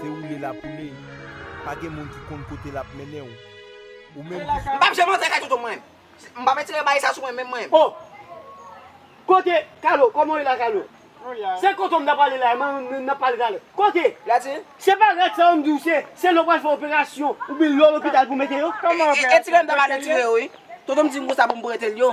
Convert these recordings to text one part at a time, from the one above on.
Se woule la poule, pa gen moun ki konn kote lap mennen w. Ou menm ki fè. M pap janm antre kay tontonm mwen. M pap etire baye sa sou mwen menm mwen. Oh! Kote Carlo? Koman w ye la Carlo? Se kote w m ta pale la a, n ap pale talè. Kote? La ti. Se pa rad sa yo m di w se, se lè w pral fè operasyon oubyen lè w lopital pou mete yo. Koman operasyon? Etire m ta pale etire yo wi. Tontonm di m konsa pou m prete l yo.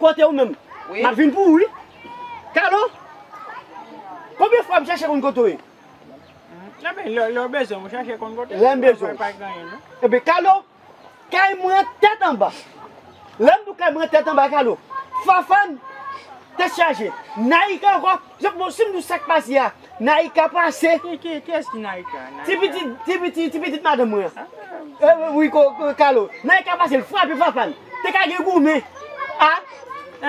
Kotew menm? Map vin pou ou wi. Kalo! Konbyen fwa m chache konn kote w ye? Ebyen lè w bezwen m ou chache konn kote m. Lè m bezwen w. Ebyen Kalo, kay mwen tèt anba. Lè m di w kay mwen tèt anba Kalo, Fafane tèt chaje, Naïka ankò. Jok bon sim dou sak pase a naika pase. Kiyes ki naika? Ti pitit ti pitit ti pitit madanm mwen an wi kalo naika pase l frape papal te ka gen goumen a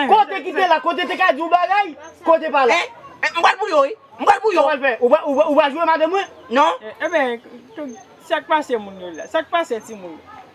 kote ki te la kote te ka di yon bagay kote pa la. M pral pou yo wi m pral pou yo. Sa wal fè ou pa jwe madanm mwen non. Ebyen sak pase moun yo la sak pase timoun.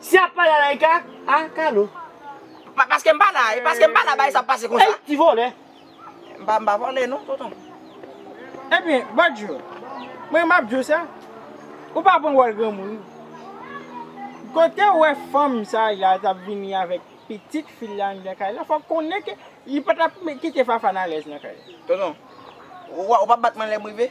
Si yap pale a laika a kado. Paskem pa la e paskem pa la bagay sa ap pase konsa. Ti vòlè. M pa vòlè non tonton. Ebyen badjo mwen map diw sa ou pa pran wòl granmoun ou kotew wè fanm sa la tap vini avèk pitit fil la anndan kay la fòk konnen ke li patap kite fafane alèz nan kay la. Tonton ou pa bat mwen lèm rive.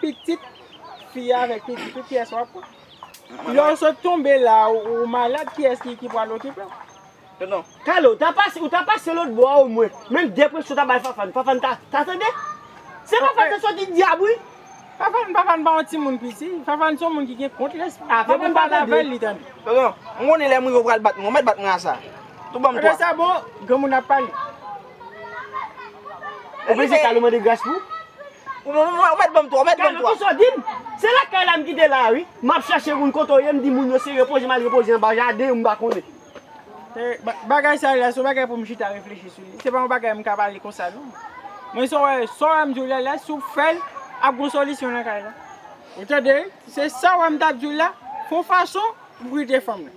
Pitit fi a avèk pitit ou kiyès wap pran? Lè ou sot tonbe la ou malad kiyès ki pral okipe ou? Tonton. Kale ou ta pase ou ta pase lòt bò a omwen menm depresyon ta bay Fafane Fafane ta ta tande? Se Fafane te soti dyab wi. Fafane Fafane pa yon timoun piti Fafane son moun ki gen kont lespri a depi ou pale avèl li tande. Tonton mwen konnen lèm rive ou pral bat mwen ou mèt bat mwen a sa. Tonton banm 3. Ebyen sa bon granmoun ap pale. Ou panse Carlo mande gras pou? Ou mèt banm 3, ou mèt banm 3. Carlo kisa w di m? Se lakay la m kite la a wi. M ap chache moun kote w ye, m di moun yo se repoze m al repoze anba jaden ou m pa konnen. Bagay sa la se yon bagay pou m chita reflechi sou li. Se pa yon bagay m ka pale konsa non. Men sa w wè, sa w wè m di w la la, si w fè l, ap gen yon solisyon nan kay la. Ou tande wi? Se sa w wè m t ap di w la, fon fason pou m kite fanm nan.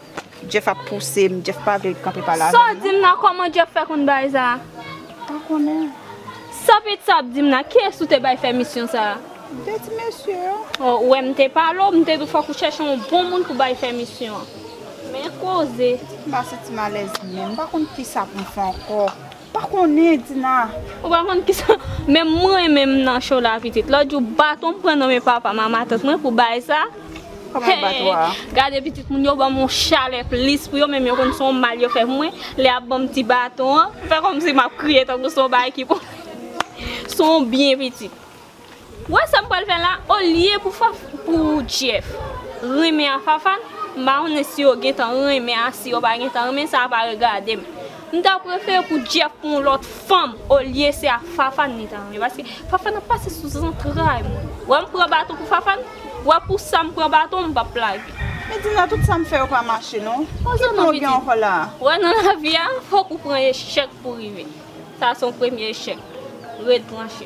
Jeff ap pousem, Jeff pa vle kanpe pale avèm non. Saw dim la koman Jeff fè konn bagay sa? Pa konnen. Sa pete sa ap dim la, kiyès ou te bay fè misyon sa? M te di mesye yo. Oh ou wè m te pale w, m te di w fòk ou chèche yon bon moun pou bay fè misyon an. Men koze. Ti tiba se ti malèz menm, m pa konn kisa pou m fè ankò. Pa konnen Dina. Ou pa konn kisa menm mwen menm nan cho la pitit lòt jou baton m pran nan men papa m a matant mwen pou bay sa hee gade pitit moun yo banm yon chalè plis pou yo menm yo konn son mal yo fè pou mwen lè yap banm ti baton an fè kòmsi map kriye tankou son bagay ki pou son byen pitit. Wè sam pral fè la olye pou faf pou Jeff renmen a Fafane m pa konnen si yo gentan renmen a si yo pa gentan renmen sa pa regadem m ta prefere pou Jeff pou yon lòt fanm olye se a Fafane li ta renmen paske Fafane ap pase sou zantray mwen wè m pran baton pou Fafane wè pou sa m pran baton m pap lage. Medina tout sa m fè yo pa mache non ki plan w gen ankò la a. Wè nan lavi a fòk ou pran echèk pou rive sa se yon premye echèk red tranche.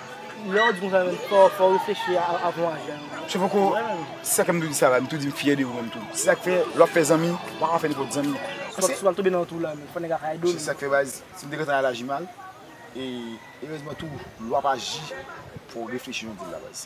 Lè ou di konsa menm fò ou reflechi avan ou aji anyway. Se poko se sa k fè m toujou di sa la, m toujou di m fyè de ou menm tou. Se sa k fè lè w ap fè zanmi, ou pa ka fè nenpòt zanmi. Paske. Si w al tonbe nan twou la menm, fò nèg la ka ede w. Se sa k fè baz, si m te gentan al aji mal, e erezman tou lè w ap aji fò w reflechi jan w di l la baz.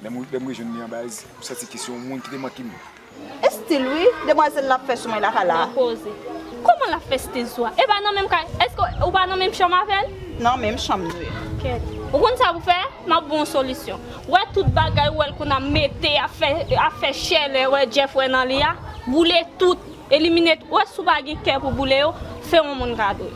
Lè m rejwenn li anba ez, m santi ke se yon moun ki te manke m. Estil wi demwazel la ap fè sou mwen la ka la. Nan koze. Kòman l ap fè stil sou a? E pa nan menm kay. Eske ou pa nan menm chanm avè l? Nan menm chanm nou ye. Kèt. Ou konn sa pou fè? M ap ba w yon solisyon. Ou wè tout bagay ou wè l konn ap mete, ap fè chè lè wè Jeff wè nan li a? Boule tout. Eliminate ou wè si w pa gen kè pou boule yo, fè yon moun kado.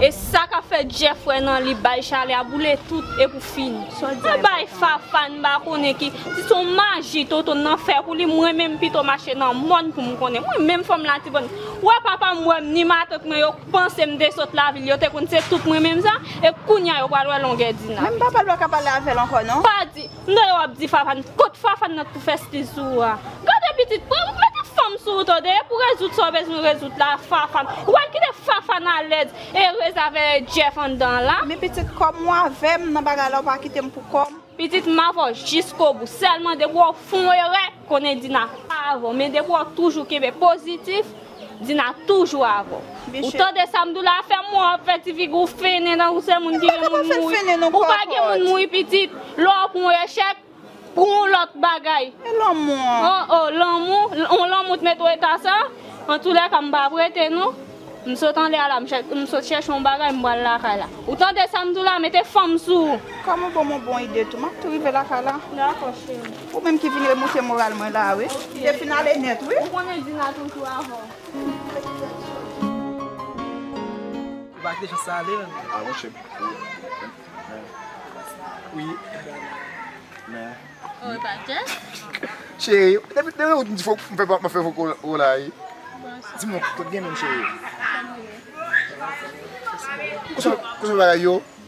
E sa kap fè Jeff wè nan li bay chalè a boule tout e pou fini. Mwen bay Fafane m pa konnen ki, si se yon maji Toto'm nan fè pou li m renmen m pito mache nan mòn pou m konnen. Mwen menm fanm latibòn, wè papa m wè m ni matant mwen yo panse m te sot lavil yo te konn se tout mwen menm sa e kounya yo pral wè longè di nan. Menm papa l pa ka pale avè l ankò non. Pa di. M tande wap di Fafan, kot Fafan nan k pou fè stil sou ou a? Gade pitit, pran m mete fanm sou ou tande, pou rezoud sa w bezwen rezoud la Fafan, ou pral kite Fafan alèz e rèz avè Jeff anndan an la? Men pitit kòm ou avè m nan bagay la ou pa kite m pou kò m? Pitit m avè w jiskobou, sèlman depi wè w fon erè, konnen Dina pa avè w, men depi wè w toujou kenbe pozitif, Dina toujou avèw. Ou tande sa Amdoula ap fè mwen wap fè ti figi ou fennen tankou se moun ki gen moun mouri. Ou pa gen moun mouri pitit. Lè w pran yon echèk, pran yon lòt bagay. E lanmou an? Oh oh lanmou, yon lanmou t met w eta sa? Antoulèka m pap rete non. M sot anlè a la, m sot chèche yon bagay m pral lakay la. Ou tande sa Amdoula mete fanm sou ou. Kòm ou banm yon bon ide tou, map tou rive lakay la. Dakò cheri. Ou menm ki vin remonte moral mwen la wi. Te fin ale nèt wi. Ou konnen Dina toujou avè w.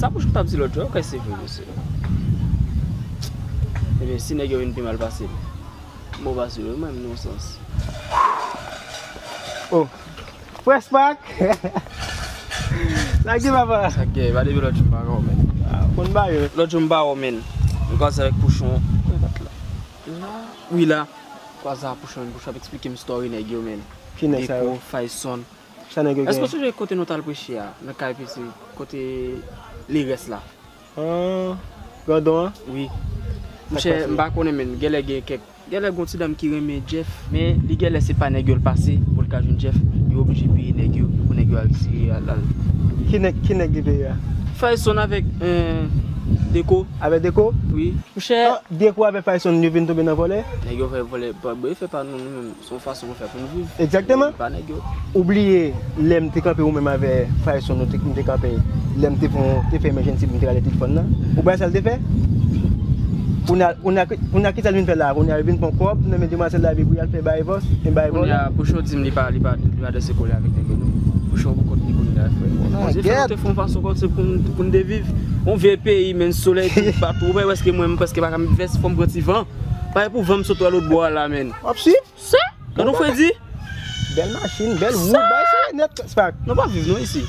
Sa bouch ou tap di lòt jou a ou kwè se vre mesye? Ebyen si nèg yo vin pi mal pase m, m bon pase yo menm nan yon sans. Oh Prespak! Sak gen papa? Sak gen? Epa depi lòt jou m pa wè w menn. Ou konn ba yo? Lòt jou m pa wè w menn. M kòmanse avèk pouchon. la wi la. Kwaza pouchon pouchon ap esplikem story nèg yo menn. Ki nèg sa yo? Deko, Fayson. Sa nèg yo gen? Èske ou sonje kote nou tal preche a nan kay PC kote Lerès la? An grandon an? Wi. Monchè m pa konnen menn genlè gen kèk genlè gon ti dam ki renmen Jeff men li genlè se pa nèg yo l pase pou l ka jwenn Jeff yo oblije peye nèg yo pou nèg yo al tire al. Ki nèg ki nèg li peye a? Fayson avèk Deko. Avè deko? Wi. Mouchè. Deko avè fayson yo vin tonbe nan vòlè? Nèg yo fè vòlè pa bon yo fè pa nou nou menm son fason nou fè poun viv. Egzakteman. Epa nèg yo. Ou bliye lèm te kanpe ou menm avè fayson nou te nou te kanpe lèm te fon te fè emejensi poum te rale tit fòn nan ou bay sal te fè? Kounya kounya kounya kisal vin fè la kounya yo vin pwan kòb nan men demwazèl la epi pou yal fè baevòs e baevò. Kounya pouchon dim li pa li pa. Gade se kole avek nèg yo nou. Bouchon gou kont li kounye a frè. Bon dye fè nou te fon fason kont se pou n te viv. On vye peyi menn solèy tout bat ou wè eske mwen m preske pa ka met vès fòm pran ti van. Pare pou van m sot wè lòt bò a la menn. Wap swiv? Sa? Gade on fredi. Bèl machin, bèl wood, bay se nèt spak. Nou pa viv nou isi.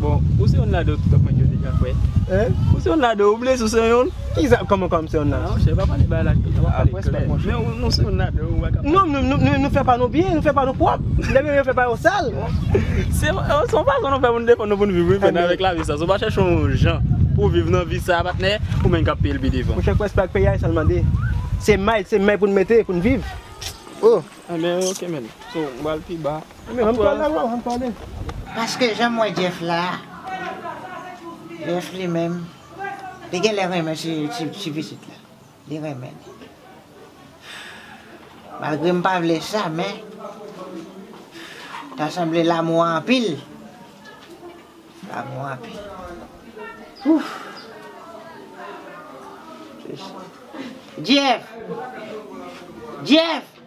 Bon ou se yon lado ou tout ap manje yo deja frè. Hein? Ou se yon lado ou blese ou se yon? Kisa koman koman m se yon lado? Nan chè pa pale ba la tonton pa pale klè. Men ou se yon lado ou baka pale. Non nou fè pa nou byen nou fè pa nou pwòp. Lè yo fè pa yo sal. Se yon fason nou fè pou nou defann nou pou nou viv wi men avèk lavi sa. Si w pa chèche yon jan pou w viv nan vi sa patnè ou menm kap peye l pi devan. Monchè kwès pa ak peyi a e sa l mande. Se may se may pou nou mete pou nou viv. Oh. Anben ok men. So m pral pi ba. Paske janm wè Jeff la Jeff li menm li genlè renmen ti pitit la li renmen li malgré m pa vle sa men ta sanble lamou an anpil lamou an anpil ooh Jeff Jeff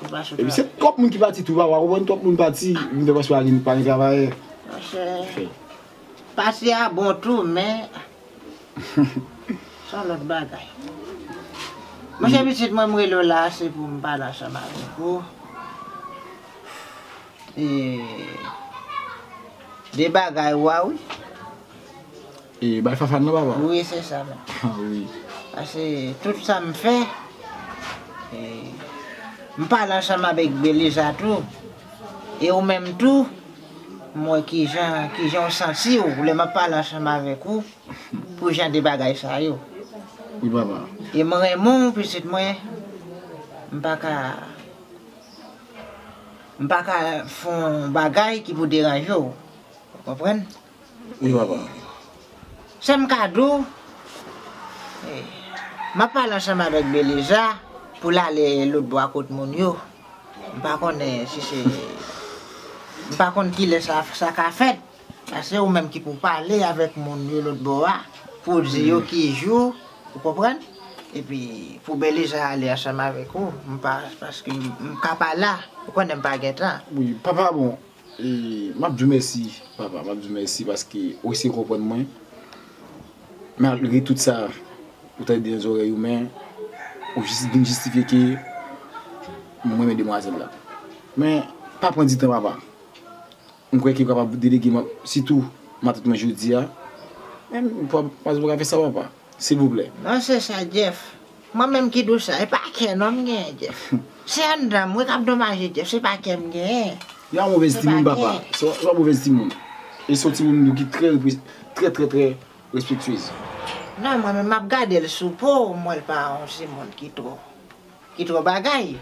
Epi se twòp moun ki pati tou papa ou konprann twòp moun pati vin fè paske pa gen pa gen travayè. Monchè pase a bon tou men son lòt bagay. Monchè pitit mwen m rele w la a se pou m pale ansanm avèk ou de bagay ou a wi. E bay fafane nan papa. Wi se sa menm. Ha wi. Pase tout sa m fè e m pale ansanm avek Beliza tou e ou menm tou m wè kijan kijan w santi w lè map pale ansanm avek ou pou jan de bagay sa yo. Wi papa. E m renmen w pitit mwen m pa ka m pa ka fon bagay ki pou deranje w ou konprann. Wi papa. Sa m ka di w, m ap pale ansanm avèk Beliza pou l ale lotbo a kot moun yo. M pa konnen si se, m pa konn ki lè sa ka fèt. Sa se ou menm ki pou w pale avèk moun yo lotbo a pou w di yo ki jou, ou konprann, epi pou Beliza ale ansanm avèk ou. M pa, paske m ka pa la, ou konnen m pa gen tan. Wi papa bon, Map diw mèsi papa map diw mèsi paske ou eseye konprann mwen malgre tout sa ou tande nan zòrèy ou men ou vin jistifye ke m renmen demwazèl la men pa pran ditan papa m kwè ke ou kapab delege m sitou matant mwen jodia men m pap ka fè sa papa silvouplè. Nan sans sa Jeff Mwen menm ki dous la, e pa kè non m genyen Jeff. Se anndan m wi k ap donmaje Jeff, se pa kè m genyen. Yon movèz timoun papa, se yon movèz timoun. E se yon timoun tou ki trè trè trè trè respektyez. Non mwen menm m ap gade l sou po m wè l pa yon timoun ki twò ki twò bagay.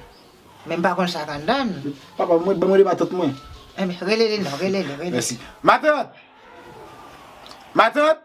Men m pa konn sa k anndan l. Papa mwen, ban m rele matant mwen. Rele li non, rele li, rele li. Mèsi. Matant! Matant!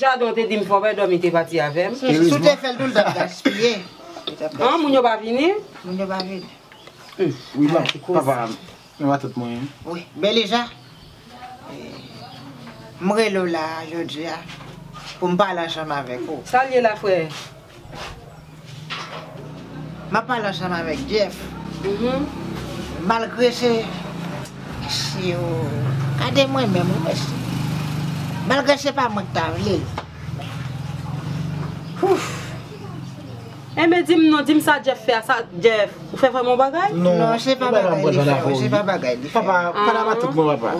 Jado ou te dim fò wè dòmi te pati avèm. Si w te fèl tou l tap gaspiye. An moun yo pa vini? Moun yo pa vini. Wi banm papa nan matant mwen an. Wi Beliza m rele w la jodia pou m pale ansanm avèk ou. Sa l ye la frè? Map pale ansanm avek Jeff malgre se mesye oo gade mwen menm wi mesye malgre se pa mwen ki ta vle l ooh. Aimé dim non dim sa Jeff fè a sa Jeff ou fè vrèman yon bagay? Non se pa bagay li fè wi se pa bagay li fè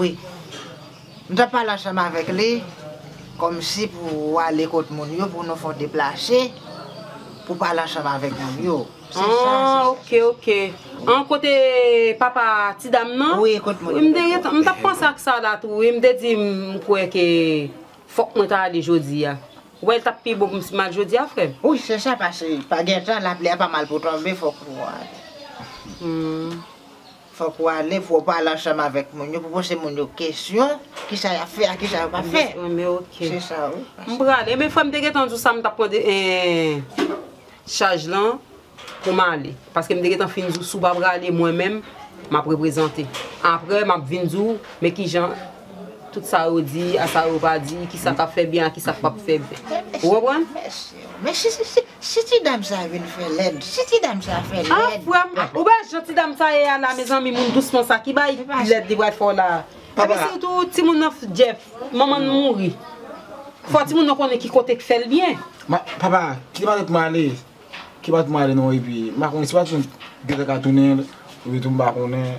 wi. M t ap pale ansanm avèk li, kòmsi pou ou ale kot moun yo pou nou fè yon deplase pou w pale ansanm avèk moun yo. Se sa, se sa. Ok, ok. An, kote papa ti dam nan? Wi, kot moun yo. M te gentan, m t ap panse ak sa la tou wi. M te di m kwè ke fòk mwen ta ale jodi a. Ou wè l t ap pi bon pou m si m al jodi a, frè m? Wi, se sa, pase pa gen tan, lapli a pa mal pou tonbe, fòk ou ale. Hum. Fòk ou ale pou ou pale ansanm avèk moun yo pou poze moun yo kesyon kisa yap fè ak kisa yo pap fè. Se sa wi. M pral e men frèm te gentan di w sa m tap pran chaj lan pou m ale paske m te gentan fin di w si w pa prale mwen menm map reprezante aprè map vin di w men kijan tout sa yo di a sa yo pa di kisa kap fè byen a kisa k pap fè byen ou konprann. Mèsi. Si ti dam sa vin fè lèd. Si ti dam sa fè lèd. An frèm ou wè jan ti dam sa ye a la mezanmi moun dous konsa ki bay lèd li pral fè w la a. Epi si tou ti moun nan Jeff manman l mouri fò ti moun nan konnen ki kote k fè l byen. Papa kite matant mwen ale. Kite matant mwen ale non epi m pa konnen si matant m gentan ka tounen l oubyen tou m pa konnen.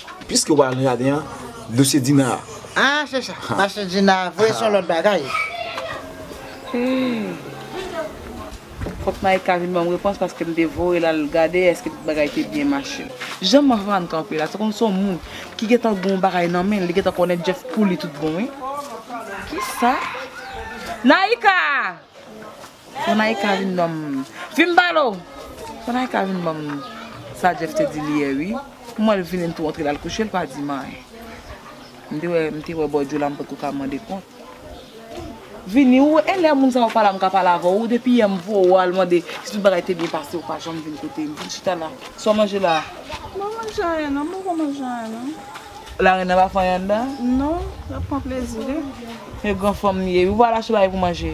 Piske wap al nan jaden an dosye Dina a. Ah se sa, pase Dina a vre se yon lòt bagay. Fòk Naïka vin banm repons paske m te voyel al gade eske tout bagay te byen mache. Jan Mahvan kanpe la se kòmsi se yon moun ki gentan gen yon bagay nan menl li gentan konnen Jeff pouli tout bon wi. Kisa? Naïka! Jamaïca vin banm vim pale w. Jamaïca vin banm sa Jeff te di li yè ui m wèl vini m tou antre lal kouche l pa dim anyen m te wè m te wè bòdyo la m potko ka mande kont vini ou wè lè moun sa yo pala m ka pale avè w depi yè m voye w al mande si tout bagay te byen pase ou pa janm vin kote m vin chita la sa w manje la m pa manje anyen non m potko manje anyen non. Lareine nan pa fè anyen andan? Non lap pran plezi li. Yon gran fanm li ye wi ou pa al achte bagay pou manje.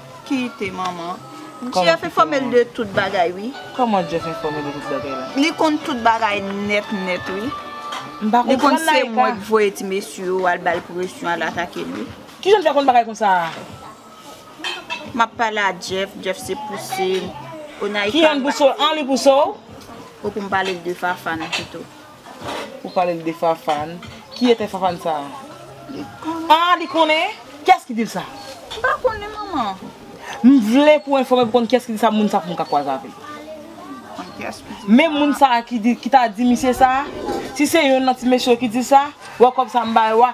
Kite manman. Jeff enfòme l de tout bagay wi. Kòman Jeff enfòme l de tout bagay la? Li konn tout bagay nèt nèt wi. M pa konprann Naïka. Li konn se mwen ki voye ti mesye yo al ba l presyon, al atake l wi. Kijan l fè konn bagay konsa a? M ap pale a Jeff, Jeff se pouse m. O Naïka. Ki yon pouse w? An li pouse w? Fòk m pale l de Fafane pito. Ou pale l de Fafane. Ki etè Fafane sa a? Li konnen. Ah li konnen? Kiyès ki di l sa? M pa konnen manman. M vle pou enfòme pou konn kiyès ki di sa moun sa pou m ka kwaze avè l. Konn kiyès ki di sa. Menm moun sa a ki ta di misye sa a, si se yonn nan ti mesye yo ki di sa, wè kòb sa m bay ou a,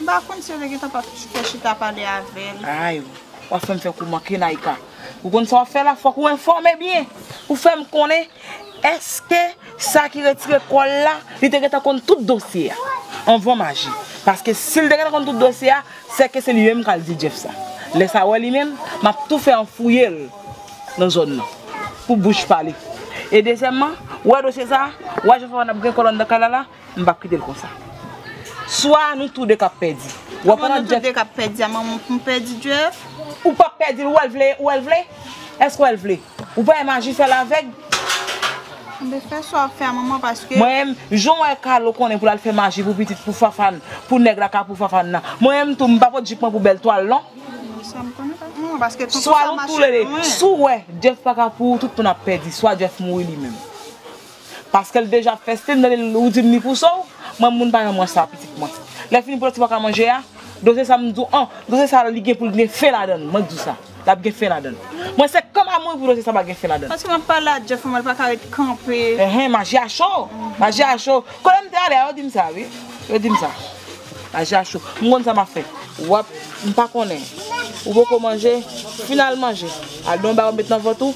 M pa konn si yo te gentan pa fè chita pale avè l. Ay! W ap fè m fè kou manke Naïka. Ou konn sa w ap fè la? Fòk ou enfòme byen! Ou fè m konnen èske sa ki retire kò l la, li te gentan konn tout dosye a anvan m aji? Paske si l te gentan konn tout dosye a, sèke se li menm k al di Jeff sa. Lè sa wè li menm, m ap tou fè an fouye l nan zòn nan pou bouch pa li. E dezyèmman, wè dosye sa, wè jan Fafane ap gen kò l anndan kay la la, M pap kite l konsa. Swa nou tou 2 kap pèdi. Wap pran Jeff. Kòman nou tou 2 kap pèdi a manman pou m pèdi Jeff? Ou pap pèdi l ou wè l vle ou wè l vle? Èske ou wè l vle? Ou pa wè maji fè l avèg? Anben fè sa wap fè a manman paske. Mwen menm jan w wè Carlo konnen pou l al fè maji pou pitit pou Fafane pou nèg la ka pou Fafane nan. Mwen menm tou m pa pot jip mwen pou bèl twal non. Sa m konnen pa manman paske tonton sa mache lwen. Swa nou tou 2. Si w wè Jeff paka pou ou tout moun ap pèdi. Swa Jeff mouri li menm. Paskel deja fèstil nan li ou dim li pou so w mwen moun pa janm wè sa pitit mwen lè fini pou lè ti paka manje a doze sa m di w an doze sa li gen pou l gen fen ladann mwen k di w sa lap gen fen ladann mwen se kòm a mouri pou doze sa pa gen fen ladann. Paske map pale a Jeff mwen paka ret kanpe. Enhen maji a cho maji a cho kote m te ale a yo dim sa wi yo dim sa maji a cho m konn sa map fè wap m pa konnen ou poko manje final manje al gen yon bagay ou met nan vant ou.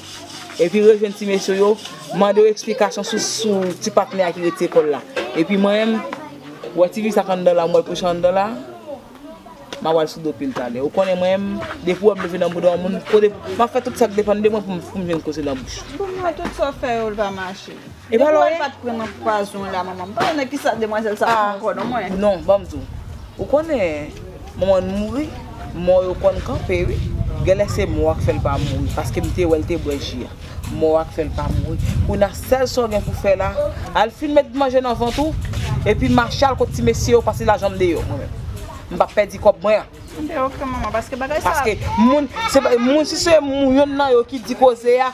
Epi rejwenn ti mesye yo, mande yo eksplikasyon sou ti patnè a ki rete lekòl la. Epi mwen menm, wè ti fi sa k anndan la, m wè l kouche anndan la, m ap al sou do pil talè. Ou konnen mwen menm, depi w wè m leve nan bouda yon moun, m ap fè tout sa k depann de mwen pou m jwenn koze nan bouch ou. Pou mwen, tout sa w fè yo l pa mache. Depi wè l pat pran nan pwazon la manman m pa konnen kisa demwazèl sa pran ankò non mwen. Non banm di w. Ou konnen manman l mouri mò yo konn kanpe wi. Genlè se mò a k fè l pa mouri paske m te wè l te bwè ji a. Mò a k fè l pa mouri. Kounye a sèl sa w gen pou fè la al fin met manje nan vant ou epi mache al kot ti mesye yo pase lajan m deyò mwen menm. M pap pèdi kòb mwen an. Ok manman paske bagay sa. Paske moun se moun si se moun yonn nan yo ki di koze a.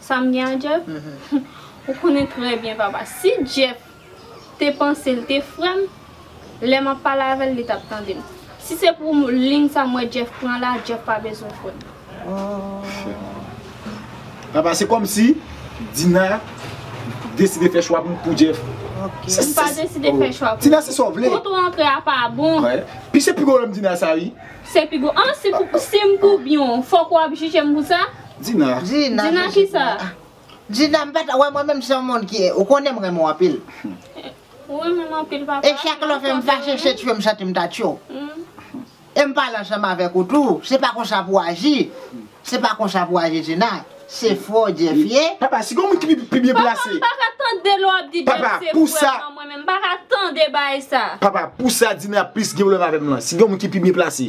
Sam gen a Jeff? Ou konnen trè byen papa si Jeff te panse l te frèm lè map pale avèl li tap tandem si se pou lign sa m wè Jeff pran la Jeff pa bezwen frèm. Ohh papa se kòmsi Dina deside fè chwa pou Jeff. M pa deside fè chwa pou Dina se kote w antre a pa bon. Pi se pi gwo lòm Dina sa wi. Se pi gwo an si m koubyn w fòk wap jije m pou sa? Dina. Dina jezi pou mwen. Dina m pata wè mwen menm se yon moun ki ou konnen m renmen w anpil. Ou renmen m anpil papa. E chak lè w fè m fache se tchyo m santi m ta tchyo w. E m pale ansanm avèk ou tou se pa konsa pou w aji se pa konsa pou w aji Dina se fò Jeff ye. Papa si gon moun ki pi byen plase. Papa m paka tande lè w ap di Jeff se fò nan mwen menm m paka tande baay sa. Papa pou sa Dina plis gen pwoblèm avè m lan si gen yon moun ki pi byen plase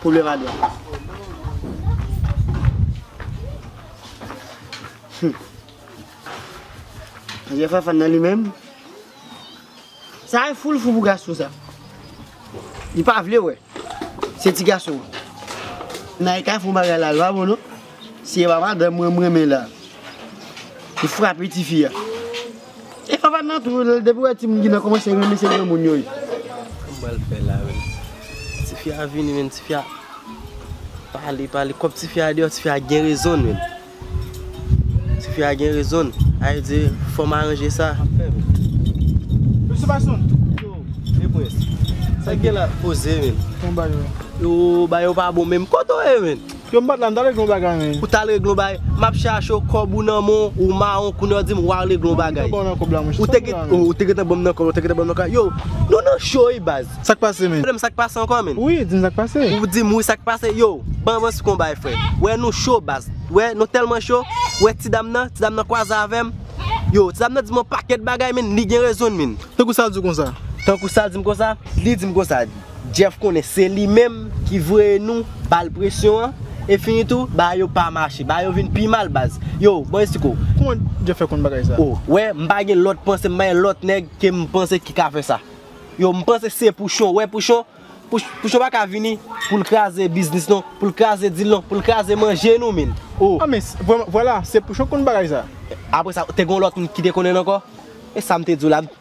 Pwoblèm a dwat. Hum. Jè Fafane nan li menm. Sa e foul fou pou gason sa. Li pa vle wè. Se ti gason. Nan e ka fon bagay la, l pa bon non. Se epa madanm mwen mrenmen la. Li frape tifi a. E papa nan tou lèl depi wè timoun ki nan kòmanse renmen se granmoun yo ye. Kòman pral fè la menm. Tifi a vini menm tifi a pale pale kòb tifi a deyò tifi a gen rezonn menm. Tifi a gen rezonn a yo di fòm aranje sa. Mesye Basonn. Yo e prens. Sak gen la poze menm. Yo bayo pa bon menm. Kote w ye menm. Yo m pat la m tal regle yon bagay men. Ou tal regle yon bagay? Map chache w kob ou nan men w ou mawon kounya w dim wal regle yon bagay. Ou te gentan banm nan kob la monche. Ou te gentan banm nan kob la ou te gentan banm nan kob la. Yow nou nan cho wi baz. Sak pase men? Frem sak pase anko men? Wi dim sak pase? Ou dim wi sak pase? Yow ban van si konbay fre. Wè nou cho baz. Wè nou telman cho. Wè ti dam nan. Ti dam nan kwaze avem. Yow ti dam nan dim yon paket bagay men li gen rezon l men. Tankou sal diw konsa? Tankou sal dim konsa? Li dim konsa di. Jeff konnen se li menm ki voye nou bal presyon an e fini tou bagay yo pa mache bagay yo vin pi mal baz yo bon estiko. Kouman jeff fè konn bagay sa. Ou wè m pa gen lòt panse m pa gen lòt nèg ke m panse ki ka fè sa yo m panse se pouchon ou wè pouchon pouchon pa ka vini pou l kraze biznis non pou l kraze dil non pou l kraze manje nou min ou. A men vwala se pouchon k konn bagay sa. Apresa te gon lòt moun ki te konnen l ankò e sa m te di w la m.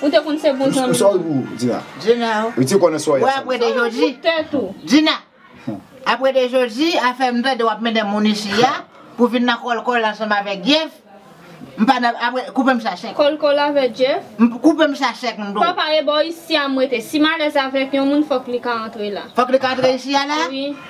Ou te konn se bon zanmi m. Sa w pou di la? Djina o. Ou te konnen sa w ye? Ou apre de jodi? Ou fout tèt ou. Djina! Apre de jodi, afè m tande w ap mennen moun isi a, pou vin nan kòlkòl ansanm avèk Jeff, m pa nan, apre, koupe m sa sèk. Kòlkòl avèk Jeff? M, koupe m sa sèk m di w. Papa e bò isi a m rete. Si m alèz avèk yon moun fòk li ka antre la. Fòk li ka antre isi a la? Wi.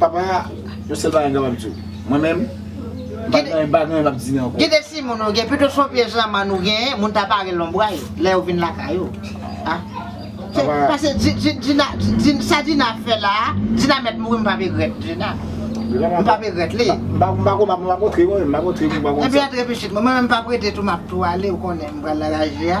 Papa, yon sèl bagay m kapab di w. Mwen menm, m pa gen anyen m ap di ankò. Ki de si moun ou gen? Pito son pye zanmann ou genyen, moun ta pare lonbray lè ou vin lakay ou. Pase, sa Dina ap fè la a, Dina mèt mouri m pap egrèt Dina. M pap egrèt li. M pa konn, m pa kontre mwen menm. M pa kontre m pa konn sa. Antre pitit mwen. Mwen menm m pap rete tou m ap tou ale ou konnen m pral nan laji a.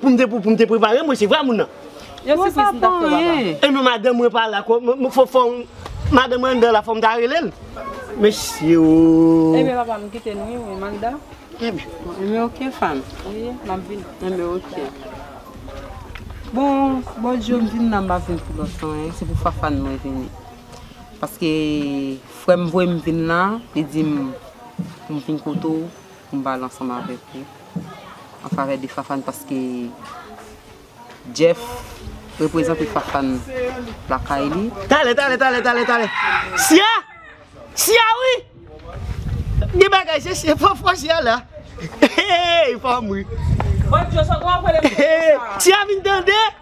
Poum te pou poum te preparem mwen se vwa moun nan. Yo si pwis mtap fè baba. Enon madanm mwen pa la ko mwen fò fò madanm mwen andan la fòm ta relel mesye ooh. Enben papa m kite nou wi mwen andan. Enben ok fanm. Wi map vini. Enben ok. Bon bon Dye m vin la mpa vin pou lòt anyen se pou Fafane mwen vini paske frèm voyem vin la li dim poum vin kote w. Konba l ansanm avèk ou an favè de Fafane paske Jeff reprezante Fafane lakay li. Tale tale tale tale tale Siya Siya wi Gen bagay se siya fò fò siya la Eyy fanm wi Siya vin tande.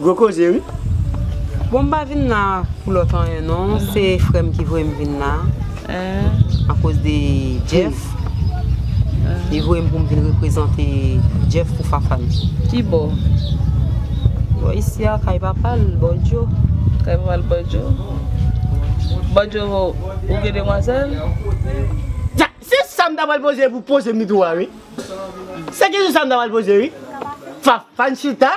Gwo koze wi. Bon m pa vin la pou lòt anyen non se frè m ki voye m vin la akoz de Jeff li voye m pou m vin reprezante Jeff pou Fafane. Kibò? Bò isi a kay papa l bò Djo. Kay papa l bò Djo? Bò Djo ou gen demwazèl? Se sa m ta pral poze epi w poze m li tou a wi. Se kesyon sa m ta pral poze wi. Fafane chita.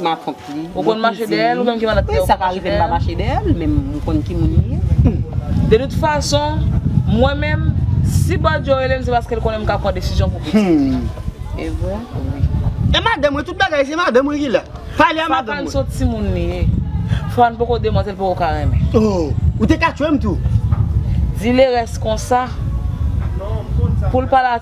Ma tante li. Ou konn mache dèyè l ou menm ki malad kè ou konn mache dèyè l? Sa pa rive m pa mache dèyè l men m konn ki moun li ye. De tout fason, mwen menm, si Badio rele m se paske l konnen m ka pran desizyon pou pitit li. E vre? Wi. E madanm mwen, tout bagay se madanm mwen ki la. Pale a madanm mwen. Fafane se yon timoun li ye. Fafane poko demantèl l poko ka renmen. Oh! Ou te ka tchwe m tou. Di Lerès konsa, pou l pale a.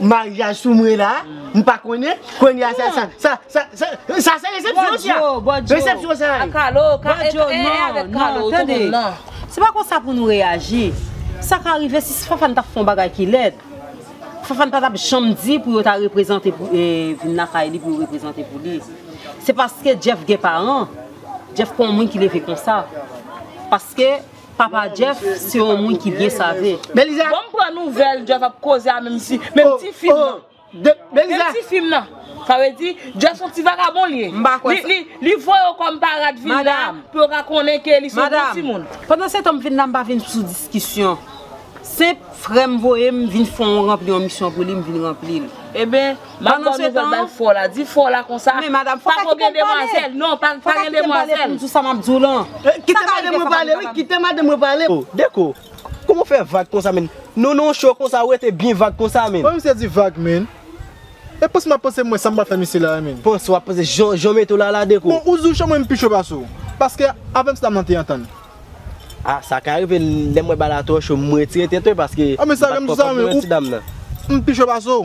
Maryaj sou mwen la, m pa konnen, kounye a sa, sa, sa, sa se resepsyon sa, resepsyon sa ye. Bòdyo, bòdyo, non, non, tande, se pa konsa pou nou reyaji, sa ka rive si Fafane ta fè yon bagay ki lèd, Fafane pa t ap janm di pou yo ta reprezante pou, vin lakay li pou yo reprezante pou li, se paske Jeff gen paran, Jeff pa yon moun ki leve konsa, paske. Papa Jeff se yon moun ki byen save. Beliza. Banm pran nouvel Jeff ap koze a menm si menm ti fim nan. Oh oh. Beliza. Menm ti fim nan. Sa vle di Jeff son ti vagabon li ye. M pa kwè sa. Li li li voye yo kom parad vin la. Madam. Pou yo ka konnen ke li son bon ti moun. Madam. Pandan setan m vin la m pa vin sou diskisyon. Senp frè m voye m vin fon ranpli yon misyon pou li m vin ranpli l. Eben Map baw nouvel bay fo la di fo la konsa pako gen demwazel non pa gen demwazel. Kite madanm mwen pale wi kite madanm mwen pale. Oh Deko kouman ou fè vag konsa menn Nou nan yon show konsa ou rete byen vag konsa menn. Wè misye di vag menn E panse map panse mwen sa mbal fè misye la a menn. Panse wap panse jan ou mete w la la Deko. Bon ou di w cho mwen m pi cho pase w paske avèm se sa nan te antann. Ah sa ka rive lèm wè bagay la twò cho m retire tèt mwen paske m pat konprann ti dam nan. M pi cho pase w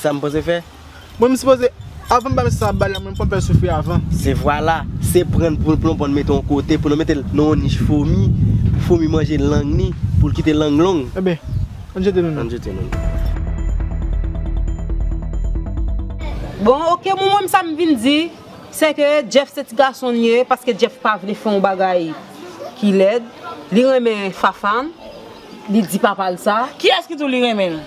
Sa m poze fè? Mwen m sipoze, avan m bay mesye sa bal la mwen m konn fè l soufri avan. Se vwala, se pran l pou l plonpon l mete yon kote pou l mete l nan yon nich fomi, pou fomi manje lang ni, pou l kite lang long. Enben, ann jete nou nou. Ann jete nou nou. Bon ok mwen menm sa m vin di, se ke Jeff se ti gason l ye, paske Jeff pa vle fè yon bagay ki lèd, li renmen Fafan, Li di papa l sa? Kiyès ki di w li renmen l?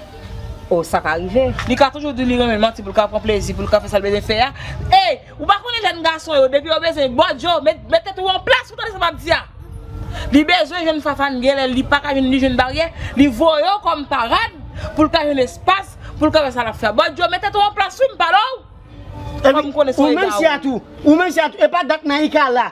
O, sa ka rive. Li ka toujou di w li renmen l manti pou l ka pran plezi, pou l ka fè sa l bezwen fè a. Ey! Ou pa konnen jèn gason yo, depi yo bezwen bòdjo, met tèt ou an plas, ou tande sa m ap di a? Li bezwen jwenn Fafane gen lè li pa ka jwenn li jwenn baryè, li voye w kòm parad pou l ka jwenn espas, pou l ka fè sa l ap fè a. Bòdjo, met tèt ou an plas wi, m pale w! Kòm m konnen se w egarè. Ou menm si a tou, ou menm si a tou, e pa dat Naïka la?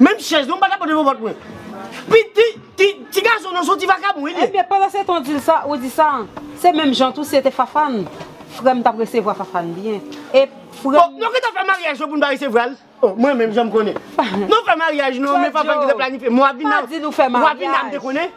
Menm chèz non m pa kapab devan vant mwen. Pi ti ti ti gason nan son ti vakabon wi li ye. Ebyen pandan se tan dil sa ou di sa se menm jan tou si se te Fafan frèm tap resevwa Fafan byen e frèm. Oh nou gentan fè maryaj yo poun pa resevwal oh mwen menm janm konnen nou fè maryaj nou men Fafan gentan planifye mwen wap vin la wap vin la m te konnen.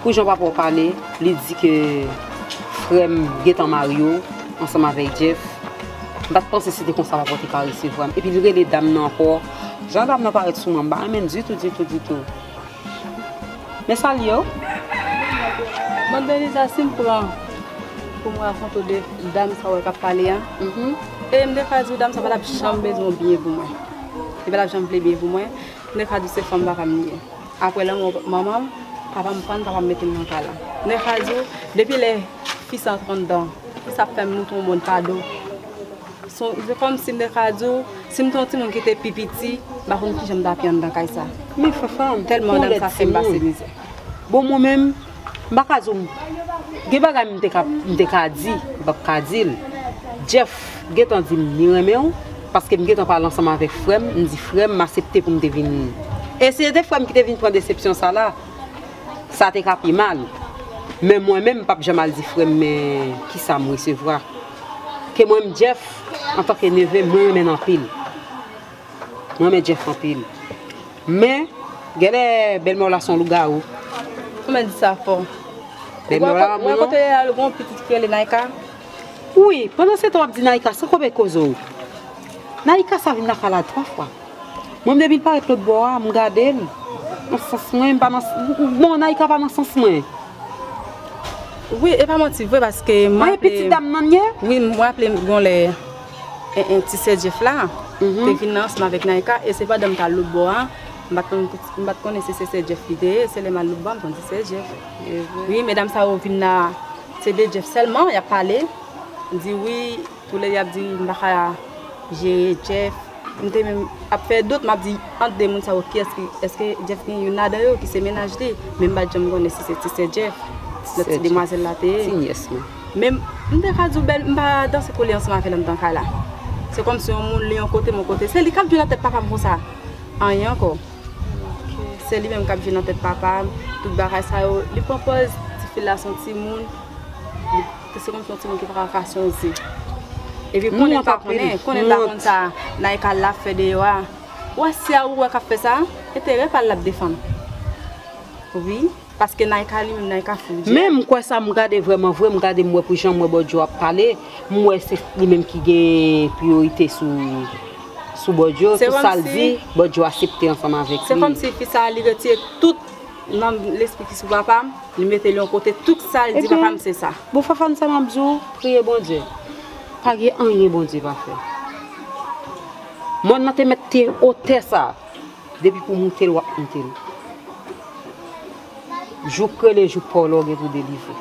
Pou jan papa w pale, li di ke frè m gentan marye w ansanm avèk Jeff. M pa t panse se te konsa papa w te ka resevwa m. Epi li rele dam nan ankò. Jan dam nan parèt sou mwen, m pa renmen l ditou, ditou, ditou. Mè salye w. Mad Beliza, si m pran pou m rakonte w de dam sa w wè k ap pale a, e m te ka di w dam sa pa t ap janm bezwen byen pou mwen. Li pa t ap janm vle byen pou mwen. M te ka di w se fanm papa m li ye. Apre lanmò manman m, papa m pann, papa m mete m nan kay la. Nèf a di w, depi lè fi sa antre anndan, ki sa ap fè m montre w mòn pa do? Se kòmsi Nèf a di w, si m te yon timoun ki te pi piti, m pa konn ki jan m t ap ye anndan kay sa. Men Fanfan, ou tèlman ti moun. Bon mwen menm, M pa ka di w Gen bagay m te ka m te ka di m pap ka di l Jeff gentan di m li renmen w paske m gentan pale ansanm avèk frè m m di frè m m asepte pou m te vin e si se te frè m ki te vin pran desepsyon sa la sa te ka pi mal men mwen menm m pap janm al di frè m men kisa m resevwa ke mwen m Jeff antanke neve m mwen renmen l anpil Mwen renmen Jeff anpil. Men, genlè bèlmèw la son lougawou. Ou menm di sa fò. Bèlmèw la lanmou non. Ou wè kote li al gon pitit ki rele Naïka? Wi, pandansetan wap di Naïka san koube kozew. Naïka sa vin nan pale a 3 fwa. Mwen menm depil parèt lotbò a, m gadel. Nan sans mwen, m pa nan Bon, Naïka pa nan sans mwen. Wi, e pa manti vre paske m raple. Ou wè pitit dam nan ye? Wi, m raplem gon lè. 1 1 ti sè Jeff la te vin nan ansanm avèk Naïka e se pandan m t al lòt bò a m pat konn m pat konnen si se sè Jeff li te ye se lè m al lòt bò a m konn se sè Jeff wi medam sa yo vin la se de Jeff sèlman y ap pale di wi tou lè y ap di m pa ka jere Jeff m te menm ap fè dout m ap di ant 2 moun sa yo kiyès ki èske Jeff gen youn ladan yo ki se mennaj li men m pat janm konnen si se ti sè Jeff lòt ti demwazèl la te ye. Men m ta ka di w bèl, m pa danse kou li ansanm avè l anndan kay la. Se kòmsi yon moun li yon kote, m yon kote. Se li k ap jwe nan tèt papa m konsa. Anyen ankò. Se li menm k ap jwe nan tèt papa m, tout bagay sa yo. Li pran pòz ti fi l la s on timoun. Se kòmsi yon timoun ki pa ka ka se yon ze. Epi konnen pa konnen, konnen l pa konn sa Naïka l la ap fè deyò a. Ou wè si a ou wè k ap fè sa, enterè pa l l ap defann. Wi. Paske Naïka li menm Naïka fout dyè. Men m kwè sa m gade vrèman vre m gade m wè pou jan m wè Bòdyo ap pale m wè se li menm ki gen priyorite sou sou Bòdyo tout sa l di Bòdyo asepte ansanm avèk li. Se kòmsi fi sa li retire tout nanm lespri ki sou papa m li mete l yon kote tout sa l di papa m se sa. Bon Fafane sa map di w priye Bondye pa gen anyen Bondye pa fè mòn nan te mèt te otè sa. Depi pou moutel wap moutel. Jouk rele jouk paw la ou gen pou delivre.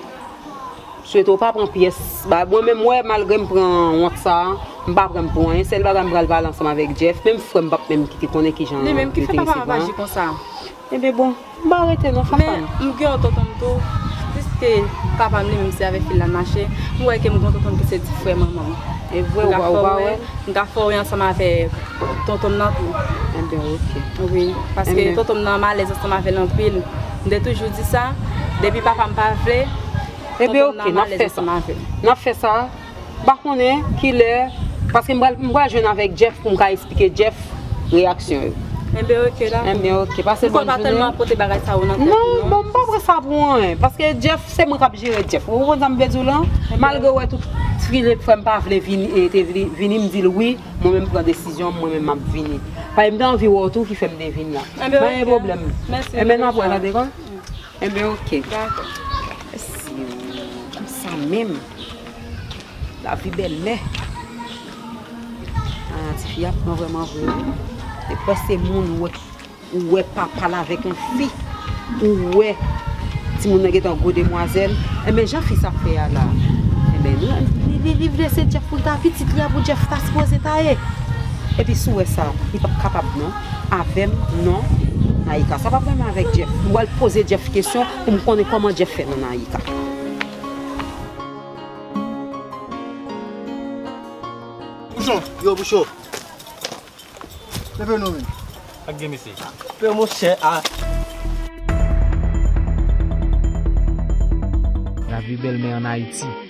Swete ou pa pran pyès bagay. Mwen menm wè malgre m pran wont sa a, m pa pran pou anyen. Sèl bagay m pral pale ansanm avèk Jeff. Menm frè m pap menm kite konnen kijan yo te resevwa m. Li menm ki fè papa m ap aji konsa. Enben bon. M pa rete non fafane. Men m gen yon tonton m tou, piske papa m li menm se avèk fi l la m mache, m wè ke m gen yon tonton m ki se ti frè manman m. E vre ou pa wè? M ka fè w wè, m ka fè w wè ansanm avèk tonton m nan tou. Enben ok. Wi, paske tonton m nan m alèz ansanm avè l anpil. M te toujou di sa, depi papa m pa vle, tonton m nan m alèz ansanm avè l. Enben ok, n ap fè sa. N ap fè sa. Pa konnen kilè paske m pral m pral jwenn avèk Jeff pou m ka esplike Jeff reyaksyon yo. Enben ok dako. Enben ok pase bòn jounen. M kwè pa tèlman pote bagay sa yo nan tèt ou non. Non bon m pa pran sa pou anyen paske Jeff se mwen kap jere Jeff ou konprann sa m vle di w lan malgre w wè tout Philippe frè m pa vle vini e te vle vini m di l wi mwen menm m pran desizyon m mwen menm map vini paske m te anvi wè w tou ki fè m te vin lan. Enben ok. Pa gen pwoblèm. Mèsi. Enben n ap wè tande kon. Enben ok dakò. Mèsi oo konsa menm lavi belle. Haa ti fi a pran vreman vre wi. Te kwè se moun ou ou wè papal avèk yon fi ou wè timoun nan gentan gwo demwazèl. Enben jan fi sa fè a la. Enben li li vle se Jeff poul ta pitit li a pou Jeff ta sipoze ta ye. Epi si w wè sa li pap kapab non. avèm non Naïka sa pap menm avèk Jeff m pral poze Jeff kesyon pou m konnen kòman Jeff fè non Naïka. Pouchon! Yo Pouchon! Leve non men. Sak gen mesye? Pè mon chè a. Lavi bèl men an Ayiti.